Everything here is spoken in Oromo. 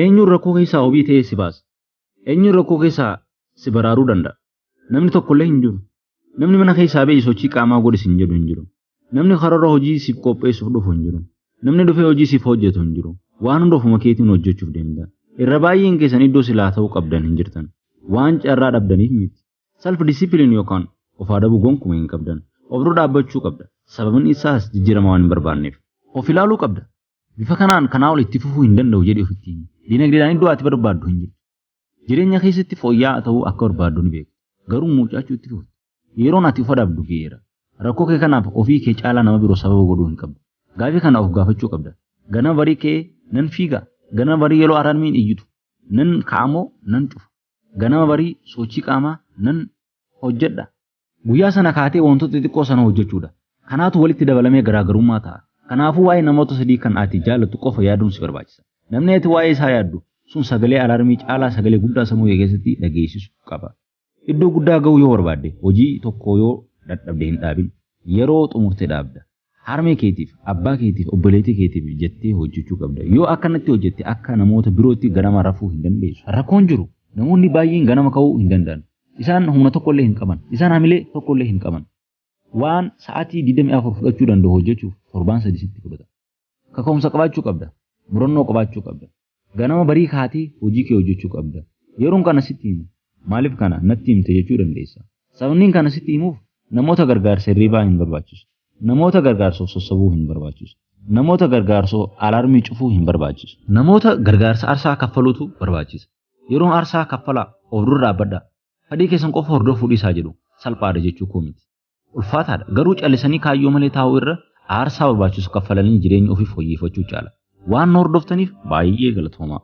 Eenyuun rakkoo keessaa wabii ta'ee si baasa? Eenyuun rakkoo keessaa si baraaruu danda'a? Namni tokkollee hin jiru. Namni mana keessaa ba'i sochii qaamaa godhi sin jedhu hin jiru. Namni karoora hojii siif qopheessuuf dhufu hin jiru. Namni dhufee hojii siif hojjetu hin jiru. Waan hunda ofuma keetiin hojjechuuf deemta. Irra baay'een keessan iddoo silaa ta'uu qabdan hin jirtan. Waan carraa dhabdaniif miti. Self discipline yookaan of adabuu gonkuma hin qabdan. Of dura dhaabbachuu qabda. Sababni isaas jijjiirama waan hin barbaanneef. Of ilaaluu qabda. Bifa kanaan kanaa ol itti fufuu hin danda'u jedhi ofitti himi. Dinagdeedhaan iddoo ati barbaaddu hin jirtu. Jireenya keessatti fooyya'aa ta'uu akka barbaaddu ni beekta. Garuu muucachuu itti fufta. Yeroon ati of adabdu ga'eera. Rakkoo kee kanaaf ofii kee caalaa nama biroo sababa godhuu hin qabdu. Gaafii kana of gaafachuu qabda. Ganama barii ka'ee nan fiiga. Ganama barii yeroo alarmiin iyyitu nan ka'amoo nan cufa. Ganama barii sochii qaamaa nan hojjedha. Guyyaa sana kaatee wantoota xixiqqoo sana hojjechuudha. Kanaatu walitti dabalamee garaagarummaa ta'a. Kanaafuu waa'ee namoota sadii kan ati jaallattu qofa yaaduun si barbaachisa. Namni ati waa'ee isaa yaaddu sun sagalee alaarmii caalaa sagalee guddaa sammuu kee keessatti dhageessisu qaba. Iddoo guddaa ga'uu yoo barbaadde hojii tokko yoo dadhabde hin dhaabin. Yeroo xumurte dhaabda. Harmee keetiif, abbaa keetiif, obboleettii keetiif jettee hojjechuu qabda. Yoo akkanatti hojjette akka namoota birootti ganama rafuu hin dandeessu. Rakkoon jiru namoonni baay'een ganama ka'uu hin danda'an. Isaan humna tokkollee hin qaban. Isaan hamilee tokkollee hin qaban. Waan sa'aatii 24 fudhachuu danda'u hojjechuuf torbaan sadii sitti fudhata. Kaka'umsa qabaachuu qabda. Murannoo qabaachuu qabda. Ganama barii kaatee hojii kee hojjechuu qabda. Yeroon kana sitti himu maaliif kana natti himte jechuu dandeessa. Sababniin kana sitti himuuf namoota gargaarsa hirriibaa hin barbaachisu. Namoota gargaarsoo sossabuu hin barbaachisu. Namoota gargaarsoo alaarmii cufuu hin barbaachisu. Namoota gargaarsa arsaa kaffaluutu barbaachisa. Yeroon arsaa kaffalaa of dura dhaabbadhaa. Fadhii keessan qofa hordofuu dhiisaa jedhu salphaadha jechuu koo miti. ulfaataadha. Garuu callisanii kaayyoo malee taa'uu irra aarsaa barbaachisu kaffalanii jireenya ofii fooyyeffachuu caala. Waan nu hordoftaniif baay'ee galatoomaa.